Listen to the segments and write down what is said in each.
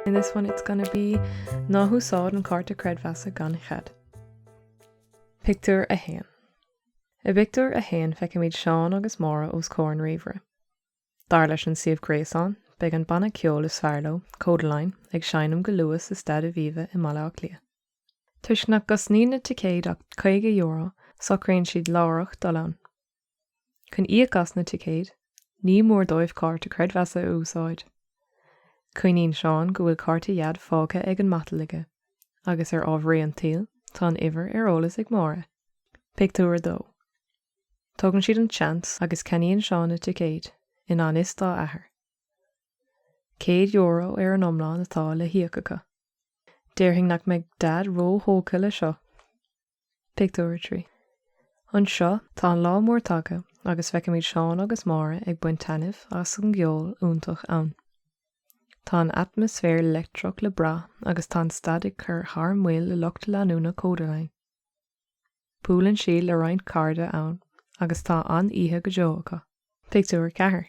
In this one it's gonna be ná húsáid an cárta creidmheasa gan chead. Pictiúr a haon. I bpictiúr a haon feicimid Seán agus Máire os comhair an ríomhaire. Dar leis an suíomh gréasáin, beidh an banna ceoil is fearr leo, Kodaline, ag seinm go luath sa Staid Aviva i mBaile Átha Cliath. Toisc nach gcosnaíonn na ticéid ach €50, socraíonn siad láithreach dul ann. Chun íoc as na ticéid, ní mór dóibh cárta creidmheasa a úsáid. Cuimhníonn Seán go bhfuil cárta Dhaid fágtha ar an matal aige, agus ar ámharaí an tsaoil, tá an uimhir ar eolas ag Máire. Pictiúr 2 Tógann siad an seans agus ceannaíonn Seán na ticéid, i ngan fhios dá athair. €100 ar an iomlán atá le híoc acu. Déarfainn nach mbeidh Daid ró-thógtha le seo. Pictiúr 3 Anseo, tá an lá mór tagtha agus feicimid Seán agus Máire ag baint taitneamh as an gceol iontach ann. Tá an atmaisféar leictreach le brath agus tá an staid ag cur thar maoil le lucht leanúna Kodaline. Buaileann siad le roinnt cairde ann agus tá an-oíche go deo acu. Pictiúr 4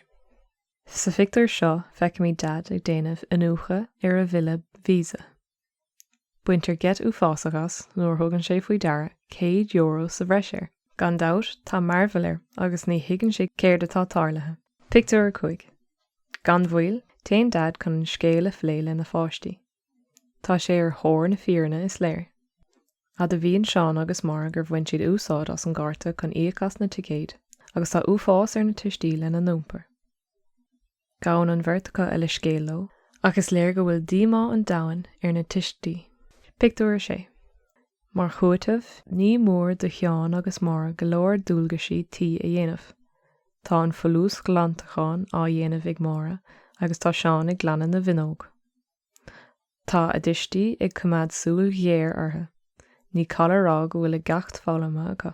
Sa phictiúr seo, feicimid Daid ag déanamh iniúchadh ar a bhille Visa. Baintear geit uafásach as nuair a thugann sé faoi deara céad euro sa bhreis air. Gan dabht, tá mearbhall air agus ní thuigeann sé céard atá tarlaithe. Pictiúr 5 Gan mhoill, téann Daid chun an scéal a phlé lena pháistí. Tá sé ar thóir na fírinne, is léir. Admhaíonn Seán agus Máire gur bhain siad úsáid as an gcárta chun íoc as na ticéid agus tá uafás ar na tuistí lena n-iompar. Gabhann an bheirt acu a leithscéal leo, ach is léir go bhfuil díomá an domhain ar na tuistí. Pictiúr 6 Mar chúiteamh, ní mór do Sheán agus Máire go leor dualgaisí tí a dhéanamh. Tá an folúsghlantachán á dhéanamh ag Máire agus tá Seán ag glanadh na bhfuinneog. Tá a dtuistí ag coimeád súil ghéar orthu. Ní call a rá go bhfuil a gceacht foghlamtha acu.